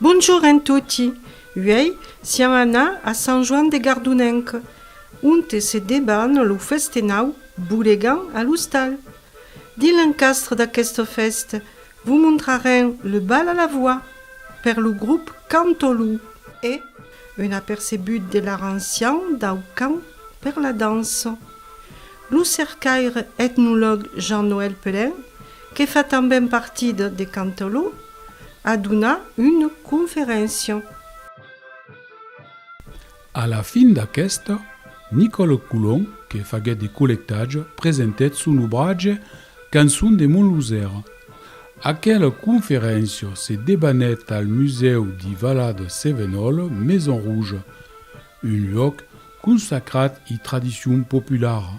Bonjour en toti! Uèi siam anà a Sant Joan de Gardonenc, onte se deban lo festenau Bolegan a l'ostal. Dins l'encastre d'aquesta fèsta, Vos montrarem le bal a la voix per lo grup Cantolou e un apercebut de l'art ancian dau cant per la dança. Lo cercaire etnolog Jean-Noël Pelin, que fa tanben partit de Cantolou, a donat una conferéncia. A la fin d'aquesta, Nicòle Colon, que faguèt de collectatge, presentèt son obratge Cançon de mon Losèra. Aquela conferéncia se debanèt al Musèu de Valad Sevenòl, Maison Rouge, un luòc consacrat i tradicion populara.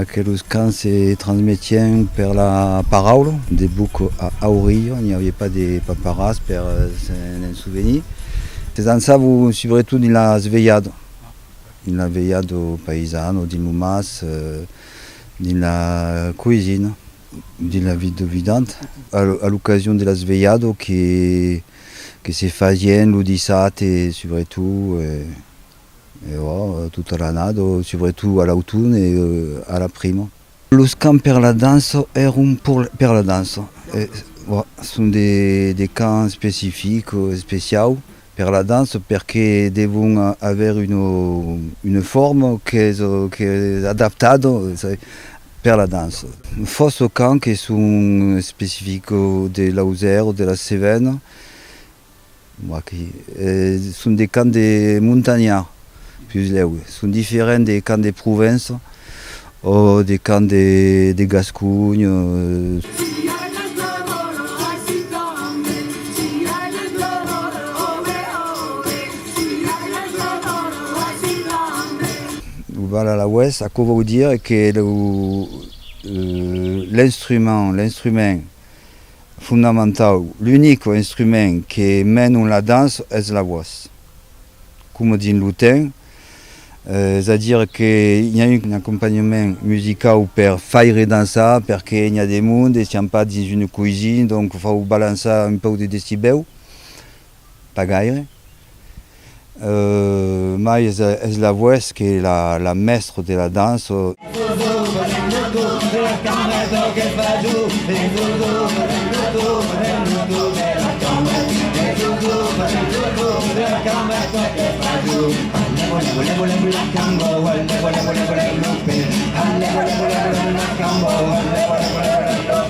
Aqueles cants se transmetien per la paraula, de boc a auriu, n'i aviá pas de paparas per s'en sovenir. Se dançava subretot dins las velhadas, dins la velhada païsana o dins lo mas, dins la coïsina, dins la vida vidanta. A l'ocasion de las velhadas que se fasien lo dissabte subretot. E ò, tota l'annada, subretot a l'auton e a la prima. Los cants per la dança èron per la dança. Son de cants especifics, especiaus per la dança perque devon aver una forma qu'es adaptada per la dança. Fòrça cants que son especifics de Lausèr o de la Cevèna Aqui son de camps de montanha, pus lèu. Son diferents de camps de Provença o de camps de Gasconha. Lo Val Alaois, aquò vòu dire que l'instrument, l'instrument. Fondamentau, l'unico instrument que menon la dança es la vos, coma dins lo ten, es a dire que i a un acompanhament musicau per faire dançar perque i a de monde e siam pas dins una coisina donc fau balançar un pauc de decibèu. Pas gaire. Mai es la voèth que la mèstre de la dança.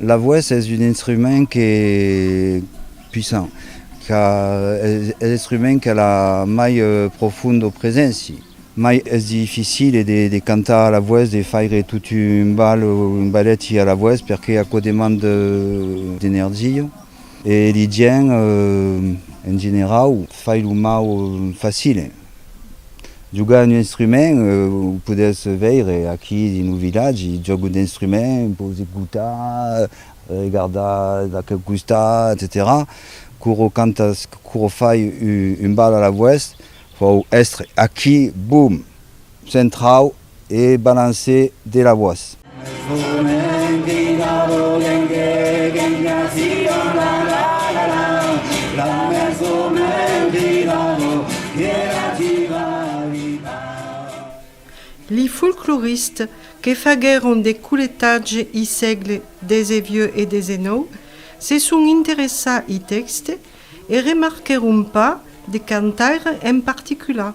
La voèç es un instrument que puissant qu'a es l'instrument qu'a la mai profondo preséncia, mai es dificile de cantar a la voèç, de faire tot un ball o un ballet a la voèç perque aquò demanda d'energia e li gents en generau fai lo mau facile. Jogar un instrument, o podètz veire aquí dins lo vilatge, jògo d'instrument, pòu ecotar, regardar d'aquel costat, etcetèra. Quoro cantas, quoro fai un bal a la voèst, fòu èstre aquí, bum! Centrau! e balance de la voix. Li folcloristes que faguèron de coletatge i sègle xix e xix se son interessà i tèxte e remarquèron pas de cantaire en particular.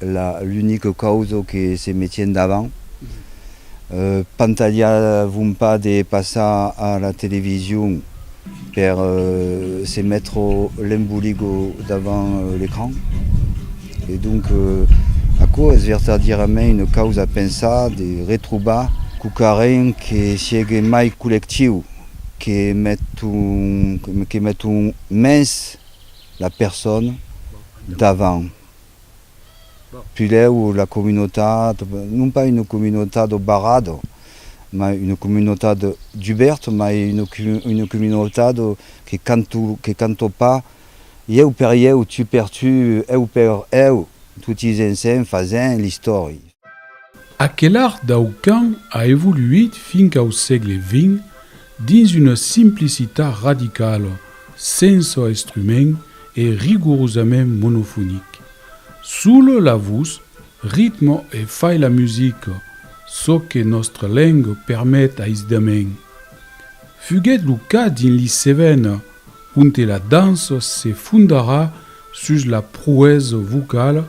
La l'unica causa que se metien davant pantalhavon pas de passar a la television per se mettre l'emboligo davant l'ecran e donc aquò es vertadièrament una causa a pensar de retrobar quauquarren que siegue mai collectiu que met un que met un mens la persona davant. Pilhèu la comunotat, non pas una comunotat au barrado, mai una comunotat dubèrt, mai una comunotat que canto, que canto pas ieu per ieu, tu per tu, eu per eu, toti ensenh fasènh l'istòria. Aquel art dau camp a evoluït fin qu'au sègle vint dins una simplicitat radicala, sensa estrument e rigorosament monofonic. Sola la vos, ritme e fai la musica, çò que nòstra lenga permet aisdament. Fuguèt lo cas dins li Cévennes, onte la dança se fondarà sus la proesa vocala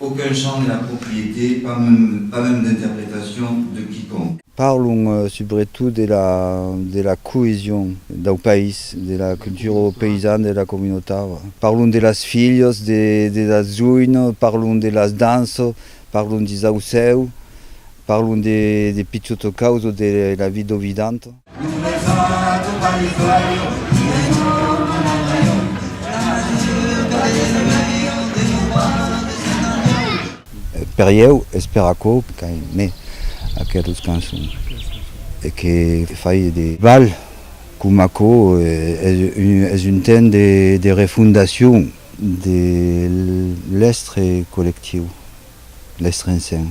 Aucun champ de la propriété, pas mème d'interprétation de quiconque. Parlon subretot de la coesion dau país, de la cultura paysana, de la communautat. Parlon de las filhas, de las joines, parlon de las danças, parlon d'i saucèu, parlon de Picciotto Causo, de la vie d'Ovidanta. Per ieu es per aquò qu'aime aquelas cançons e que fai de bal com aquò es un temps de refondacion de l'estre collectiu, l'estre ensenh.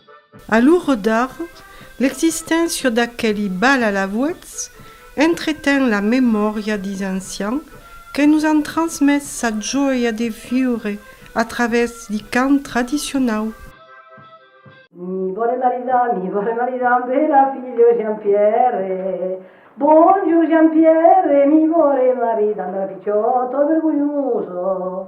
A lo redar, l'existéncia d'aqueli bal alavuèths entreten la memòria dis ancian que nos an transmés sa joia de viure a través di cant tradicionau. Mi vòle maridar, mi vòle maridar amb ela, filho Jean-Pierre. Bonjour Jean-Pierre, mi vòle maridar amb ela, pichòt, ò vergonhoso.